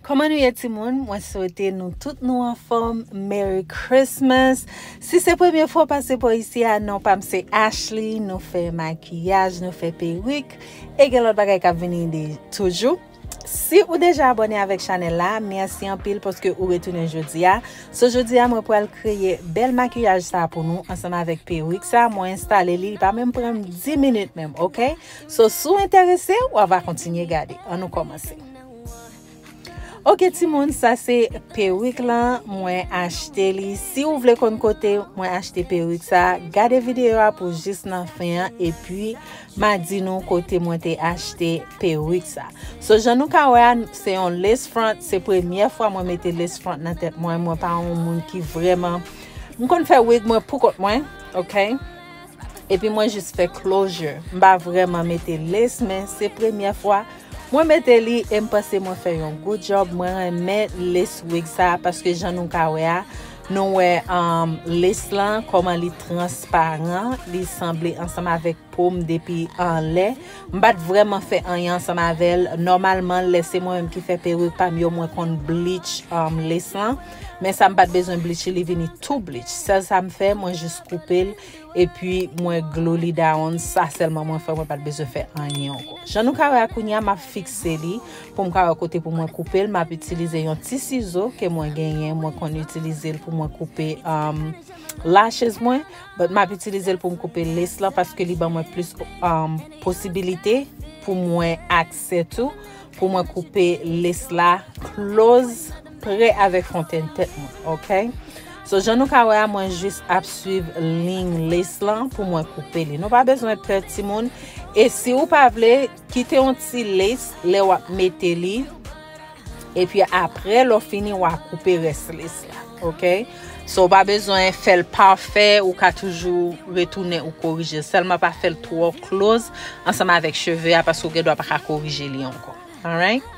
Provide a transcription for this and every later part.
Koman nou ye timoun mwen swete nou tout nou anfom Merry Christmas si se premye fwa w pase po isi a non pam se Ashley nou fè makiyaj nou fè perik e gen lot bagay kap vini de toujou Si ou deja abone avek chanel la merci anpil paske ou retounen jodia so jodia mwen pral kreye bel makiyaj sa pou nou ansanm avek perik sa mwen enstale li li pa menm pranm 10 minit menm ok. So si w enterese w ava kontinye gade. An nou kòmanse. Ok timoun sa se perik lan mwen achte li. Si w vle konn kote mwen achte perik sa, gade videyo a pou jis nan fen an epi ma di nou kote mwen te achte perik sa. So jan nou ka wè a se yon lace front, se premye fwa mwen mete lace front nan tèt mwen, mwen pa yon moun ki vreman m konn fè wig mwen poukont mwen, ok. Epi mwen jis fè closure. M pa vrèman mete lace men se premyè fwa Mwen mete li e m panse mwen fè yon good job mwen renmen lace wig sa paske jan nou ka wè a nou wè um lace lan kòman li transparan li sanble ansanm avèk po m depi anlè m pat vrèman fè anyen ansanm avèl nòmalman lè se mwen menm ki fè peruk pa m yo mwen konn bleach um lace lan. Men sa m pat bezwen bleach li vini tou bleach. Sèl sa m fè mwen jis koupe l epi mwen glue li down sa sèlman mwen fè mwen pat bezwen fè anyen anko. Jan nou ka wè a kounya map fikse li pou m ka wè kote pou mwen koupe l map itilize yon ti sizo ke mwen genyen mwen konn itilize l pou mwen koupe um, lashes mwen but map itilize l pou m koupe lace lan paske li ban mwen plis um, posibilite pou mwen aksè tou Pou mwen koupe lace la close prè avèk fontenn tèt mwen. Ok. So jan nou ka wè a mwen jis ap swiv ling lace lan pou mwen koupe li. Nou pa bezwen pè ti moun. E si ou pa vle, kite yon ti lace lè wap mete li. E pi apre lò fini wap koupe rès lace. Ok So ou pa bezwen fèl pafè ou ka toujou retounen ou korije Sèlman pa fèl twò kloz ansanm avèk cheve a paske ou gen dwa pa ka korije li ankò Alright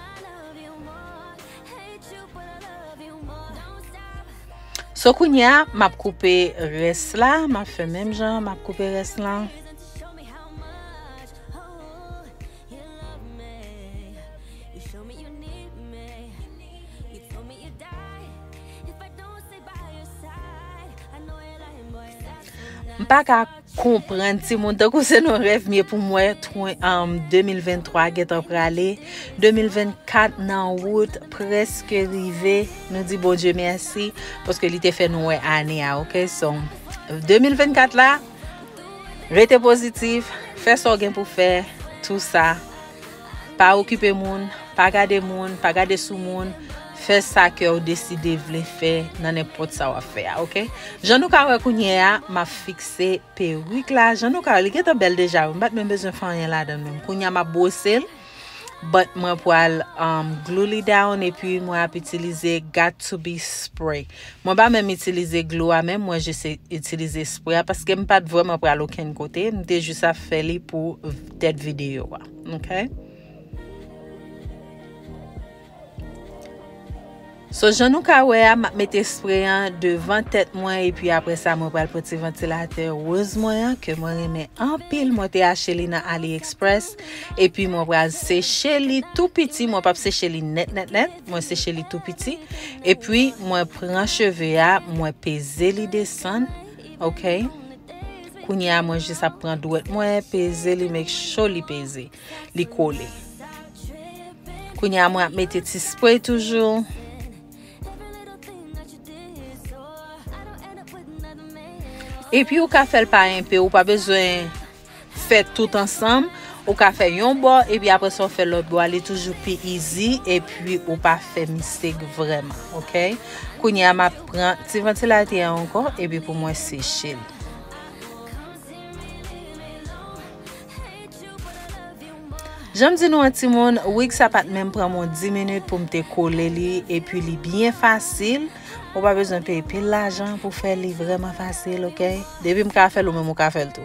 So kounye a m ap koupe rès la m ap fè menm jan m ap koupe rès la M pa ka konprann ti moun tan kou se nou rev mye pou mwen 2023 gen tan prale 2024 nan wout preske rive nou di bon dje mersi poske li te fè nou wè ane a ok son 2024 la Rete pozitif, fè sa w gen pou fè, tou sa. Pa okipe moun, pa gade moun, pa gade sou moun, fè sa kè w deside vle fè nan nenpòt sa w ap fè a, ok? Jan nou ka wè kounye a, m ap fikse perik la, jan nou ka wè li gentan bèl deja wi, m pa t menm bezwen fè anyen ladan l menm, kounye a m ap bwose l. but mwen pral um, glue li down epi mwen ap itilize got to be spray. Mwen pa menm itilize glue a menm mwen jis itilize spray a paske m pat vreman pral okenn kote, m te jis ap fè li pou tèt videyo a. Okay? So jan nou ka wè a map mete spray an devan tèt mwen epi apre sa mwen pral pran ti vantilatè rose mwen an ke mwen renmen anpil mwen te achte li nan AliExpress epi mwen pral seche li tou piti mwen pap seche li net net net mwen seche li tou piti epi mwen pran cheve a mwen peze li desan ok kounye a mwen jis ap pran dwet mwen peze li make sure li peze li kole Kounye a mwen ap mete ti spray toujou. E pi ou ka fè l pa enpe, ou pa bezwen fè tout ansanm. Ou ka fè yon bò, e pi apre sa ou fè lòt bò a, li toujou pi izi, e pi ou pa fè mistake vreman, ok? Kounye a m ap pran ti vantilatè an ankò, e pi pou mwen seche l. Janm di nou an timoun, wig sa pat menm pran mwen 10 minit poum te kole li epi li byen fasil, ou pa bezwen peye pil lajan pou fè li vreman fasil ok, depim ka fèl ou menm ou ka fèl tou.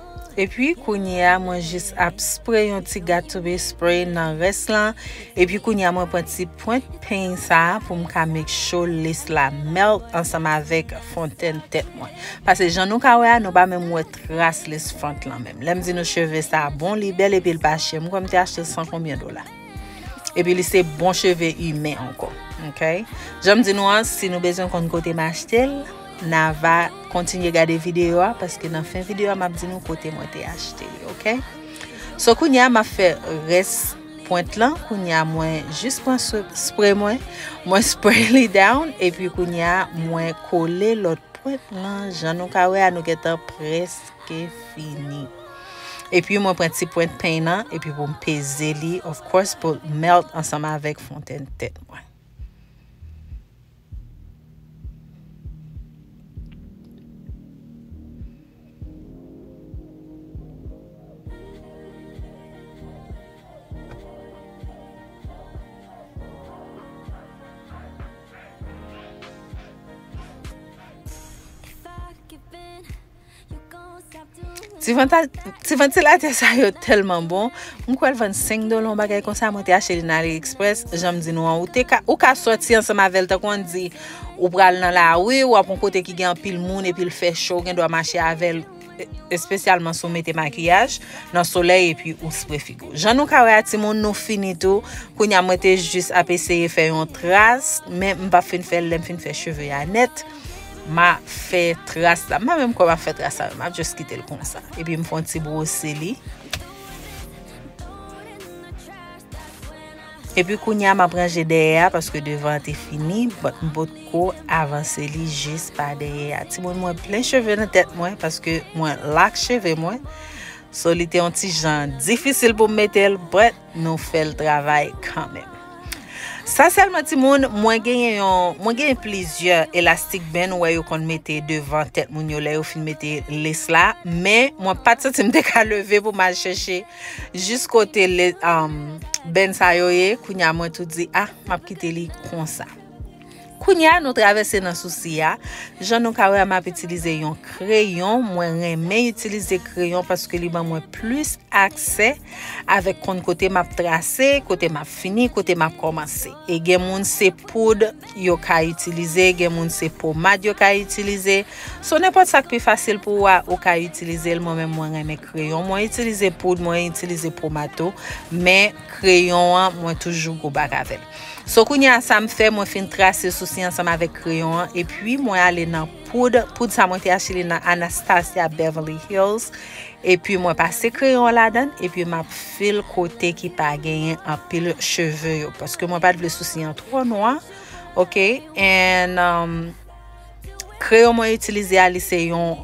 Epi kounye a mwen jis ap spray yon ti gatube spray nan rès lan. Epi kounye a mwen pran ti pwent peny sa pou m ka make sure lace la melt ansanm avèk fontèn tèt mwen. Pase jan nou ka wè a nou pa menm wè tras lace front lan menm. Lè m di nou cheve sa bon li bèl epi l pa chè. M kwè m te achte l san konbyen dola. Epi li se bon cheve imen anko. Ok. Janm di nou an, si nou bezwen konn kote m achte l, na va kontinye gade videyo a, paske nan fen videyo a m ap di nou kote mwen te achte li. Ok. So kounye a m ap fè res pwent lan, kounye a mwen jis pran spray mwen, mwen spray li down, epi kounye a mwen kole lot pwent lan, jan nou ka wè a nou gen tan prese. Ok fini. Epi mwen pran ti pwent peny nan epi pou m peze li of course pou melt ansanm avèk fontenn tèt mwen. Ti vantilatè sa yo telman bon, mwen kwèl vann 5 dola yon bagay konsa, mwen te achte li nan Ali Express, janm di nou an, ou ka soti ansan mavel tan kon di, ou pral nan la rue, ou ap yon kote ki gen anpil moun, epil fè cho, ou gen dwa mache avel, espesyalman sou mete makiyaj, nan soley epi ou spre figou. Jan nou ka wè a ti moun, nou fini tou, kounya mwen te jis ap eseye fè yon tras, men m pap fin fèl, lèm fin fè cheve ya net. Ma fè tras la. M pa menm kwè ma fè tras la. Ma just kite l konsa. E pi m fon ti brose li. E pi kounya ma pran je dèyè a. Paske devan te fini. But m pot ko avanse li jis pa dèyè a. Ti moun mwen plen cheve nan tèt mwen. Paske mwen lak cheve mwen. So li te yon ti jan difisil pou m metel. But. Nou fel travay kanmenm. Sa selman timoun mwen genyen yon mwen genyen plizyè elastik ben nou wè yo konn mete devan tèt moun yo lè yo fin mete les la men mwen pat santi m te ka leve pou mal chèche jis kote le um, ben sa yo ye kounya mwen tou di ah map kite li konsa. Kounya nou travèse nan sousi a, jan nou ka wè a map itilize yon kreyon, mwen renmen itilize kreyon paske li ban mwen plis aksè avèk konn kote map trase, kote map fini, kote map kòmanse. E gen moun se poud yo ka itilize, gen moun se pomad yo ka itilize, so nenpòt sak pi fasil pou ou a ou ka itilizel, mwen menm mwen renmen kreyon, mwen itilize poud, mwen itilize pomad tou, men. kreyon an mwen toujou gwo bak avèl so kounye a sa m fè mwen fin trase sousi ansanm avèk kreyon an epi mwen ale nan poud poud sa mwen te achte li nan Anastasia Beverly Hills epi mwen pase kreyon an ladan epi m ap fil kote ki pa genyen anpil cheve yo paske mwen pat vle sousi an tro nwa ok en um, kreyon mwen itilize a li se yon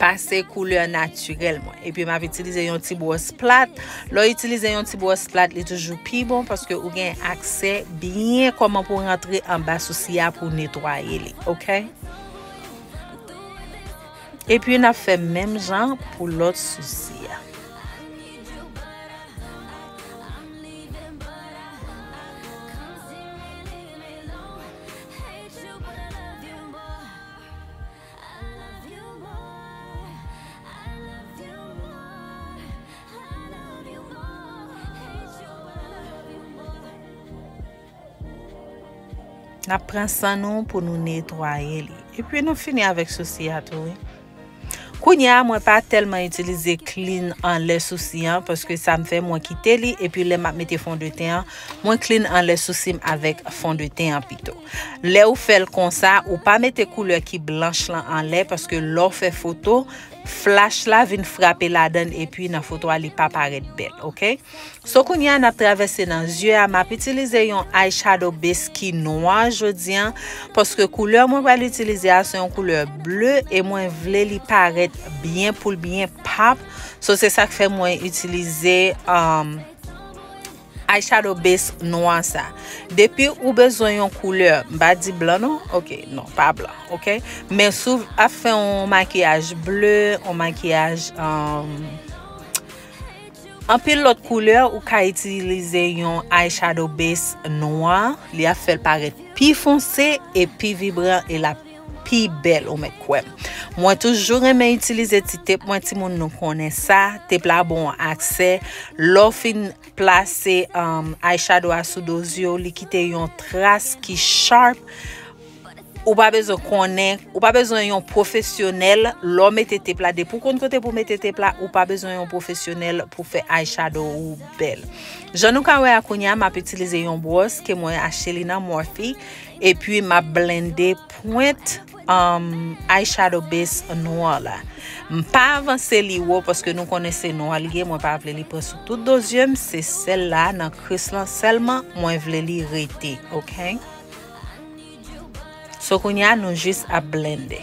pase koulè natirèl mwen. Epi m ap itilize yon ti bwòs plat. Lò itilize yon ti bwòs plat, li toujou pi bon paske ou gen aksè byen koman pou rantre an ba sousi a pou netwaye li. Ok? Epi n ap fè menm jan pou lòt sousi a. Nap pran san nou pou nou netwaye li. E pi nou fini avèk sousi a tou. Kounye a mwen pa telman itilize klin an lè sousi an. Paske sa m fè mwen kite li. E pi lè map mete fon de ten an. Mwen klin an lè sousi m avèk fon de ten an pito. Lè ou fèl konsa ou pa mete koulè ki blanch lan anlè paske lè w fè foto flash la vin frape ladann epi nan foto a li pa parèt bèl ok so kounye a nap travèse nan zye a map itilize yon eye shadow base ki nwa jodi an paske koulè mwen pral itilize a se yon koulè ble e mwen vle li parèt byen poul byen pap so se sak fè mwen itilize um, Eyeshadow base nwa sa. Depi ou bezwen yon koulè, m pa di blan non, ok, non, pa blan, ok. Men sou ap fè yon makiyaj ble, yon makiyaj um, anpil lòt koulè, ou ka itilize yon eyeshadow base nwa, li ap fèl parèt pi fonse e pi vibran e lap pi bèl ou mèt kwèm. Mwen toujou renmen itilize ti tep mwen ti moun nou konnen sa. Tep la bon an aksè. Lò fin plase um, eyeshadow a sou do zye ou li kite yon tras ki sharp. Ou pa bezwen konnen, ou pa bezwen yon profesyonèl lò mete tep la. Depi ou konn kote pou mete tep la, ou pa bezwen yon profesyonèl pou fè eyeshadow ou bèl. Jan nou ka wè a kounya, m ap itilize yon bwòs ke mwen achte li nan Morphe. Epi m ap blende pwent eye shadow base nwa la. M pa avanse li wo paske nou konnen se nwa li ye. Mwen pa vle li pran sou tout do zye m. Se sel la nan kris lan selman mwen vle li rete. Ok. So kounye a nou jis ap blende.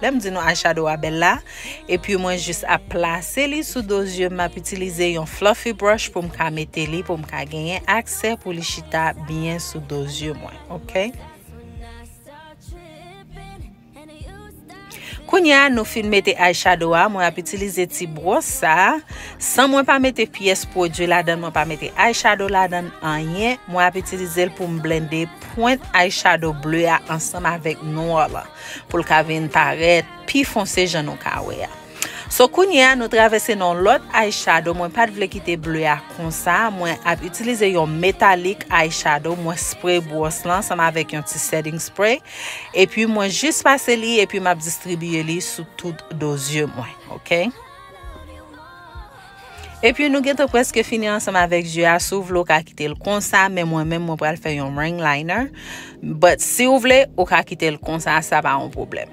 Lèm di nou eyeshadow a bèl la, epi mwen jis ap plase li sou do zyeum map itilize yon fluffy brush poum ka mete li poum ka genyen aksè pou li chita byen sou do zye mwen ok. Kounya nou fin mete eyeshadow a mwen ap itilize ti bros sa san mwen pa mete pyès pwodwi ladan mwen pa mete eyeshadow ladan anyen mwen ap itilizel poum blende pwent eyeshadow bleu a ansanm avèk nwa lan. pou l ka vin parèt pi fonse jan nou ka wè a. So kounye a nou travèse nan yon lòt eyeshadow mwen pat vle kite ble a konsa mwen ap itilize yon metalik eyeshadow mwen spray bwòs lan ansanm avèk yon ti setting spray epi mwen jis pase li epi map distribiye li sou tout do zye mwen ok. Epi nou gentan preske fini ansanm avèk zye a, si w vle w ka kite l konsa, men mwen menm mwen pral fè yon ring liner, but si w vle ou ka kite l konsa sa pa yon pwoblèm.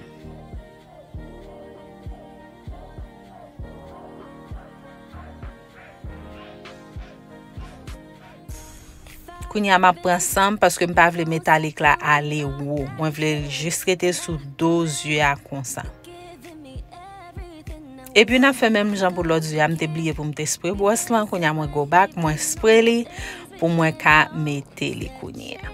Kounye a map pran sanm paske m pa vle metalik la ale wo. Mwen vle l jis rete sou do zye a konsa. Epi nap fè menm jan pou lòt zye a. M te bliye pou m te spre bwòs lan. Kounye a mwen go bak, mwen spre li pou mwen ka mete li kounye a.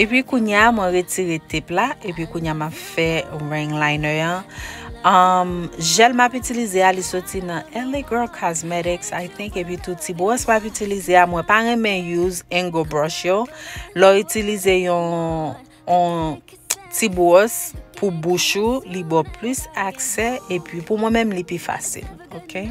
Epi kounye a mwen retire tep la epi kounye a map fè ring liner an. Um, jel map itilize a li soti nan LA Girl Cosmetics I think epi tou ti bwòs map itilize a mwen pa renmen use angle brush yo. Lò itilize yon on ti bwòs pou bouch ou li bo plus aksè epi pou mwen menm li pi fasil. Okay?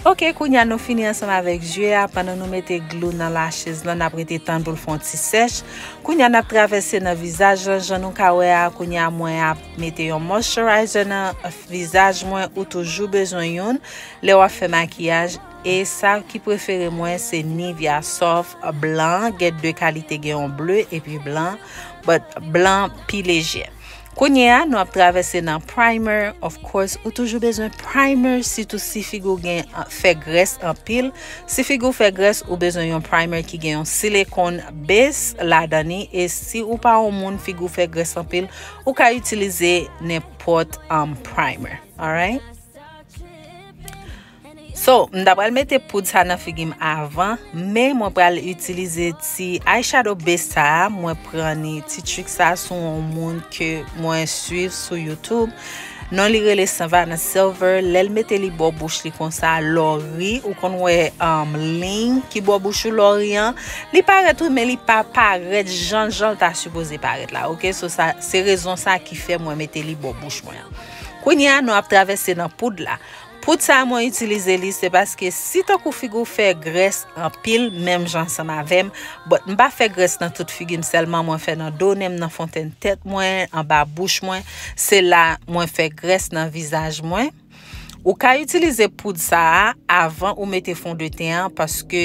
Ok kounya nou fini ansanm avèk zye a pandan nou mete glou nan la chez lan nap rete tann pou l fon ti sèch kounya nap travèse nan vizaj lan jan nou ka wè a kounya mwen ap mete yon moisturizer nan vizaj mwen ou toujou bezwen youn lè wap fè makiyaj e sa ki prefere mwen se nivya sof blan gen de kalite gen yon ble epi blan but blan pi lejè. Kounye a nou ap travèse nan primer of course ou toujou bezwen primer sitou si figi w gen fè grès anpil si figi w fè grès ou bezwen yon primer ki gen yon silikon base ladan ni e si ou pa yon moun figi w fè grès anpil ou ka itilize nenpòt um, primer alright. So, m ta pral mete poud sa nan figi m avan, men mwen pral itilize ti eyeshadow base sa a, mwen pran ni ti trik sa a sou yon moun ke mwen swiv sou YouTube. Non li rele Savannah Silver, lè l mete li bò bouch li konsa, lò ri, ou konn wè um, liy ki bò bouch ou lò ri an, li parèt wi men li pa parèt jan jan l ta sipoze parèt la, ok, so sa, se rezon sa ki fè mwen mete li bò bouch mwen an. Kounye a nou ap travèse nan poud la. Poutsa mwen itilize li se paske si tankou figi w fè grès anpil menm jan ansanm avè m but m pa fè grès nan tout figi m sèlman mwen fè nan do nen m nan fontenn tèt mwen anba bouch mwen se la mwen fè grès nan vizaj mwen ou ka itilize poud sa a avan ou mete fondeten an paske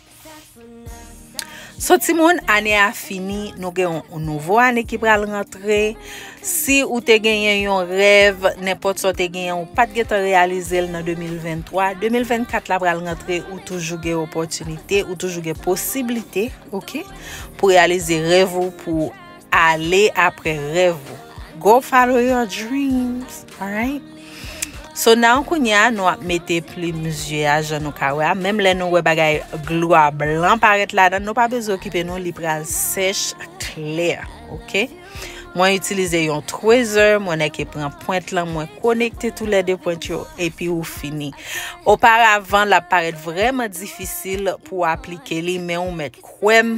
So ti moun, ane a fini, nou gen yon nouvo ane ki pral rentre. Si ou te genyen yon rev, nenpot so te genyen, ou pat gen tan realize l nan 2023, 2024 la pral rentre, ou toujou gen opotinite, ou toujou gen posibilite, ok, pou realize rev ou pou Ale apre rèv ou. Go follow your dreams. Alright? So nan kounye a nou ap mete plim zye a jan nou ka wè a. Menm lè nou wè bagay glwa blan parèt la dan nou pa bezwen okipe nou li pral sèch klè. Ok? Mwen itilize yon tweezer, mwen nèke pran pwent lan, mwen konekte tou lè de pwent yo, epi ou fini. Oparavan, l ap parèt vrèman difisil pou aplike li, men ou mèt kwèm,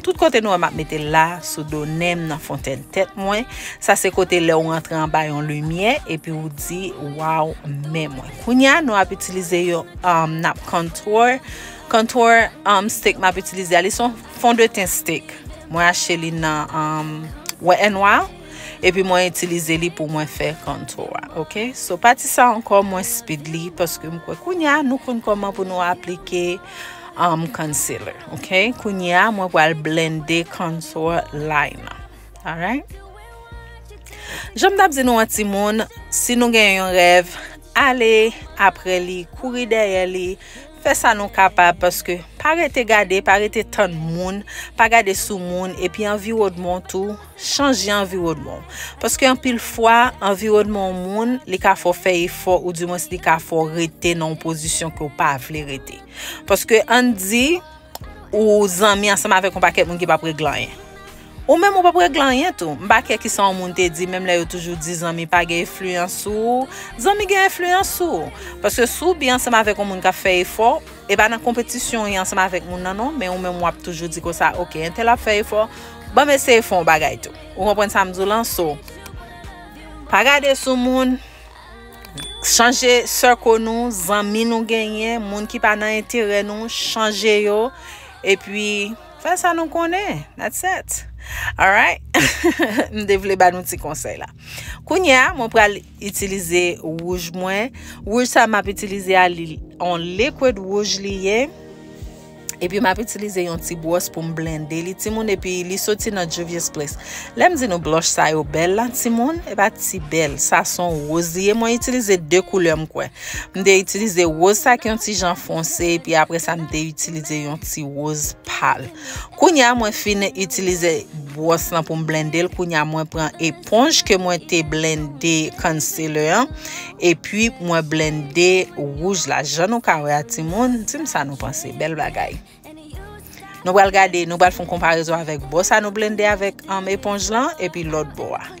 Tout kote nou wè map mete l la, sou do nen m nan fontèn tèt mwen, sa se kote lè ou rantre anba yon limyè epi ou di waww men mwen. Kounya nou ap itilize yo um nap contour, contour um stick map itilize a li son fond de teint stick mwen achte li nan um Wet n Wild. Epi mwen itilize li pou mwen fè kontou a. Ok, so pati sa ankò mwen speed li paske m kwè kounye a nou konn koman pou nou aplike um, concealer. Ok, kounye a mwen pral blende contour line nan. Alright? Jom tap di nou an ti moun, si nou gen yon rèv, ale apre li, kouri dèyè li, fè sa nou kapab paske pa rete gade, pa rete tann moun, pa gade sou moun epi anviwodmon tou Chanje anviwònman w. Paske anpil fwa, anviwònman yon moun, li ka fè w fè efò ou di mwens li ka fè w rete nan yon pozisyon ke w pa vle rete. Paske ann di, ou zanmi ansanm avèk yon pakèt moun ki pap regle anyen. Ou menm ou pap regle anyen tou. M pa kè kisa yon moun te di, menm lè yo toujou di zanmi pa gen enfliyans sou ou, zanmi gen enfliyans sou ou. Paske si w byen ansanm avèk yon moun k ap fè efò, E pa nan konpetisyon ou ye ansanm avèk moun nan non, men ou menm wap toujou di konsa ok entèl ap fè efò, banm eseye fè yon bagay tou. Ou konprann sa m di w lan so pa gade sou moun, chanje circle nou, zanmi nou genyen, moun ki pa nan enterè nou chanje yo epi fè sa nou konnen that's it. Alright m te vle ba nou ti konsèy la. Kounye a mwen pral Itilize wouj mwen. Wouj sa map itilize a li on liquid wouj li ye. Epi map itilize yon ti bwòs pou m blende li timoun epi li soti nan Juvia's Place. Lèm di nou blush sa yo bèl la timoun, e pa ti bèl. Sa son woz li ye. Mwen itilize 2 koulè m kwè. M te itilize woz sa ki yon ti jan fonse epi apre sa m te itilize yon ti woz pal. Kounya mwen fin itilize bwòs lan pou m blende l kounya mwen pran eponj ke mwen te blende concealer an epi mwen blende wouj la jan nou ka wè a timoun di m sa nou panse bèl bagay nou pral gade nou pral fon konparezon avèk bò sa nou blende avèk eponj lan epi lòt bò a.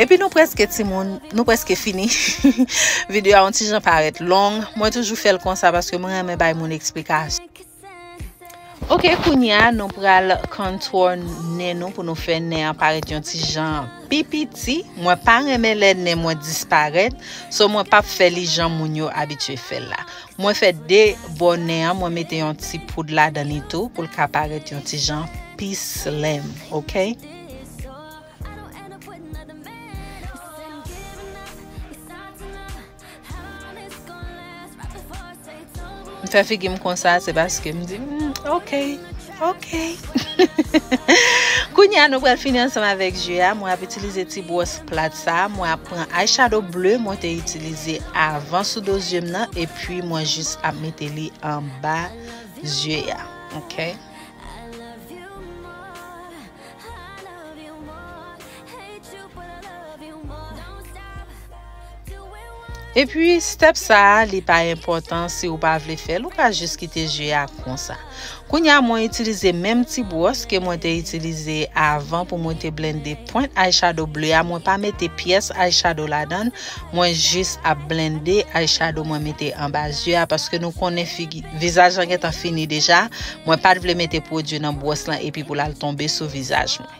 Epi nou preske timoun, nou preske fini. Video a yon ti jan parèt long. Mwen toujou fè l konsa paske mwen renmen bay moun eksplikasyon. Ok, kounye a nou pral contour nen nou pou nou fè nen an parèt yon ti jan pi piti. Mwen pa renmen lè nen mwen disparèt. So mwen pap fè li jan moun yo abitye fè l la. Mwen fè de bò nen an mwen mete yon ti poud ladan li tou pou l ka parèt yon ti jan pi slim ok. M fè figim konsa se paske m di ok. Ok Kounye a nou pral fini ansanm avèk je a Mwen ap itilize ti bwòs plat sa Mwen ap pran eyeshadow bleu mwen te itilize avan sou do zye m nan Epi mwen jis ap mete li anba zye a Ok. Epi step sa a li pa enpòtan si ou pa vle fèl ou ka jis kite je a konsa. Kounya mwen itilize menm ti bwòs ke mwen te itilize avan pou mwen te blende pwent eyeshadow ble a mwen pa mete pyès eyeshadow ladan mwen jis ap blende eyeshadow mwen mete anba zye a paske nou konnen figi vizaj lan gentan fini deja mwen pat vle mete pwodwi nan bwòs lan epi pou lal tonbe sou vizaj mwen.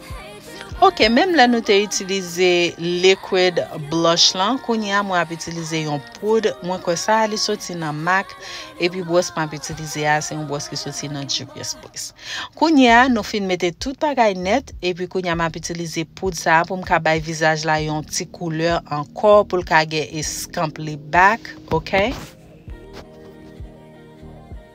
Ok menm lè nou te itilize liquid blush lan kounye a mwen ap itilize yon poud mwen kwè sa li soti nan mac epi bwòs map itilize a se yon bwòs ki soti nan juvia's place kounye a nou fin mete tout bagay nèt epi kounye a map itilize poud sa pou m ka bay vizaj la yon ti koulè ankò pou l ka gen eskanp li back ok.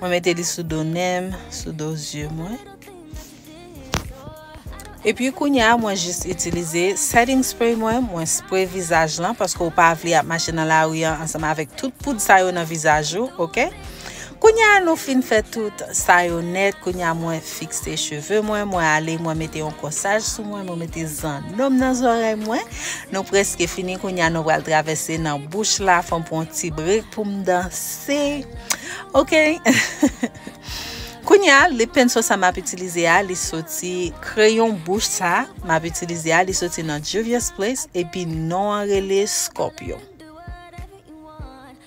Mwen mete li sou do nen m, sou do zye mwen. E pi kounye a mwen jis itilize setting spray mwen, mwen spray vizaj lan paske ou pa vle ap mache nan lari an ansanm avèk tout poud sa yo nan vizaj ou, ok? Kounya nou fin fè tout sa yo nèt, kounya mwen fikse cheve mwen, mwen ale mwen mete yon kòsaj sou mwen, mwen mete zannòm nan zòrèy mwen. Nou preske fini kounya nou pral travèse nan bouch la, fòm pran yon ti brek pou m danse. Ok. Kounya lip penso sa map itilize a, li soti kreyon bouch sa map itilize a, li soti nan Juvia's Place epi non an rele Scorpio.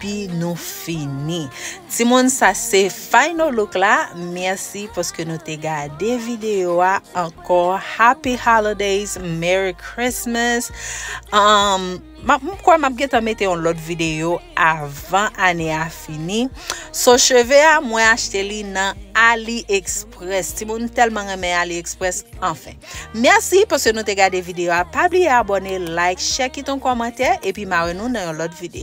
Pi nou fini. Timoun sa se final look la merci paske nou te gade video a anko happy holidays merry Christmas um m kwè map gentan mete yon lot video avan ane a fini so cheve a mwen achte li nan Ali Express timoun m telman renmen Ali Express anfen merci paske nou te gade video a pa bliye abone like share kite yon komantè epi ma wè nou nan yon lot video.